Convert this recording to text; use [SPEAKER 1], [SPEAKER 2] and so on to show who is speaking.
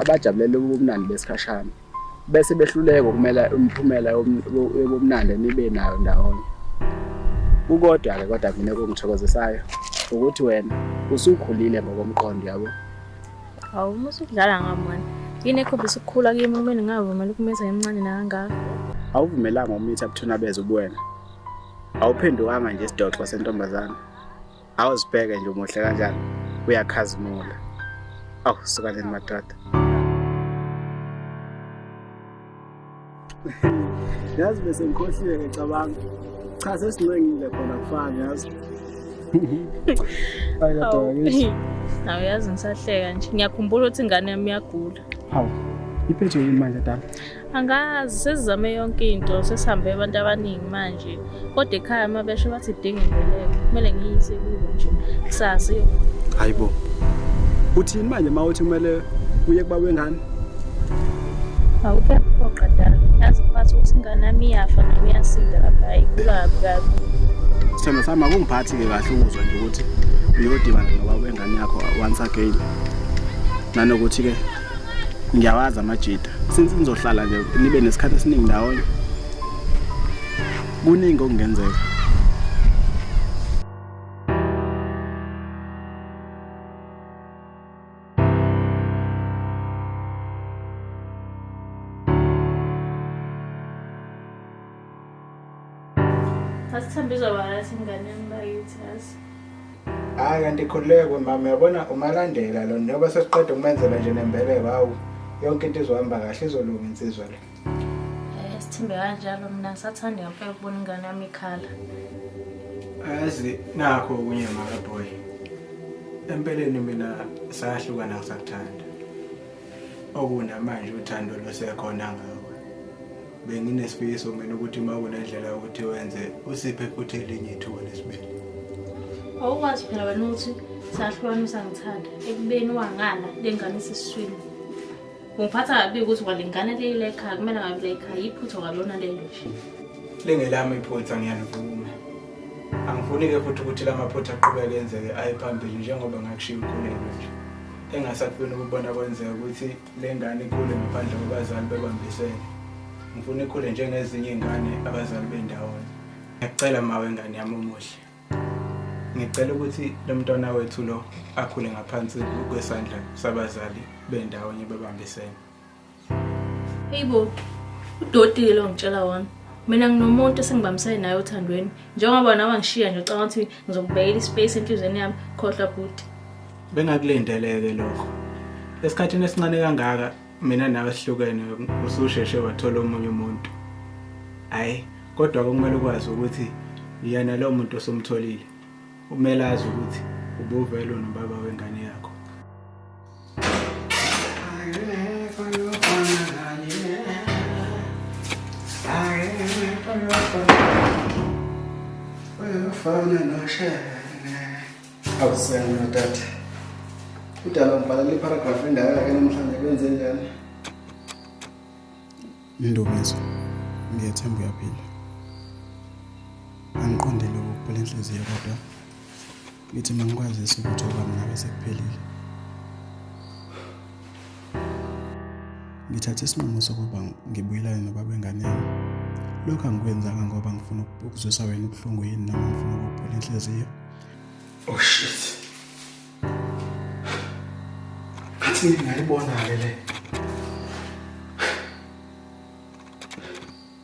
[SPEAKER 1] abajabulele ubumnandi besikhashana bese behluleka ukumela imiphumela yobumnandi enibe nayo ndawonye kukodwa-ke kodwa mina kungithokozisayo ukuthi wena usukhulile ngokomqondo yabo hawu
[SPEAKER 2] uma usudlala ngami wena yini ekhombisa ukukhula kimi kumele ngingavumeli ukumitha emncane nakangaka awuvumelanga
[SPEAKER 1] umitha buthuna beze ubuwena awuphendukanga nje isidoxo sentombazana awuzibheke nje umuhle kanjani uyakhazimula awu sukaneni madoda yazi bese ngikhohliwe ngicabanga cha sesincengile khona kufana yazi nawe yazi
[SPEAKER 2] ngisahleka nje ngiyakhumbula ukuthi ingane yami iyagula hawu
[SPEAKER 1] iphethwe yini manje dala angazi
[SPEAKER 2] sesizame yonke into sesihambe abantu abaningi manje kodwa ekhaya uma besho bathi idinga imbeleko kumele ngiyise kubo nje kusasa yo hayi bo
[SPEAKER 1] uthini manje uma uthi kumele uye kuba wengane
[SPEAKER 2] awukephoqa dala yazi phathi ukuthi ingane yami iyafa noma iyasinda lapha ayigula kabi kabi sithemba
[SPEAKER 1] sami akungiphathi-ke kahle ukuzwa nje ukuthi uyodibana nobaba wengane yakho once again nanokuthi-ke ngiyawazi amajita since nizohlala nje nibe nesikhathi esiningi ndawonye kuningi okungenzeka
[SPEAKER 2] Asithembe izobalathi ingane yami bakithi yazi. Hayi
[SPEAKER 3] kanti khululekwe mama yabona umalandela lo njengoba sesiqeda ukumenzela nje nembeleko hawu yonke into izohamba kahle izolunga insizwa le. Eh, Asithembe
[SPEAKER 2] kanjalo mina ngisathanda ngempela ukubona ingane yami ikhala.
[SPEAKER 3] Ayazi nakho okunye maka boy. Empeleni mina sahlukana ngisakuthanda. okunamanje uthando lusekhona ngawe benginesifiso mina ukuthi uma kunendlela yokuthi wenze usiphe futhi elinye ithuba lesibili
[SPEAKER 2] awukwazi phela wena ukuthi sahlukana usangithanda ekubeni wangala lengane isiswini ungiphatha kabi ukuthi kwalengane leyi layikhaya kumele ngabe layikhaya yiphutha kwalona lelo nje lingelami
[SPEAKER 3] iphutha ngiyalivuma angifuni-ke futhi ukuthi la maphutha aqhubeke enzeke aye phambili njengoba ngakushiya umkhuleko nje engasakufuni ukubona kwenzeka ukuthi le ngane ikhule ngaphandle kwabazali bebambisene ngifuna ikhule njengezinye iy'ngane abazali bendawonye ngiyacela mawe ngane yami omuhle ngicela ukuthi lo mntwana wethu lo akhule ngaphansi kwesandla sabazali bendawonye bebambisene
[SPEAKER 2] Hey bo, udoti lo ngitshela wona. Mina nginomuntu esingibambisene naye othandweni. Njengoba nawe ngishiya nje ucabanga ukuthi ngizokubekela ispace enhlizweni yami khohlwa bhuti. Bengakulindeleke
[SPEAKER 3] lokho. Esikhathini esincane kangaka mina nawe sihlukene ususheshe wathola omunye umuntu. Hayi, kodwa kumele ukwazi ukuthi yena lo muntu osumtholile umele azi ukuthi ubuvelo nobaba wengane yakhe.
[SPEAKER 1] Awusena tata. Udala ngibhalele iparagraph endala ke namhlanje kwenze njani?
[SPEAKER 4] Ndumiso. Ngiyethemba uyaphila. Angiqondile ukubhula inhliziyo kodwa Ngithi mangikwazisa ukuthi okwami nawe sekuphelile. Ngithathe isinqumo sokuba ngibuyelane nobaba wengane yami. Lokho angikwenzanga ngoba ngifuna ukuzwisa wena ubuhlungu yini noma ngifuna ukuphula inhliziyo. Oh
[SPEAKER 3] shit. Ngathi ngingayibona-ke le.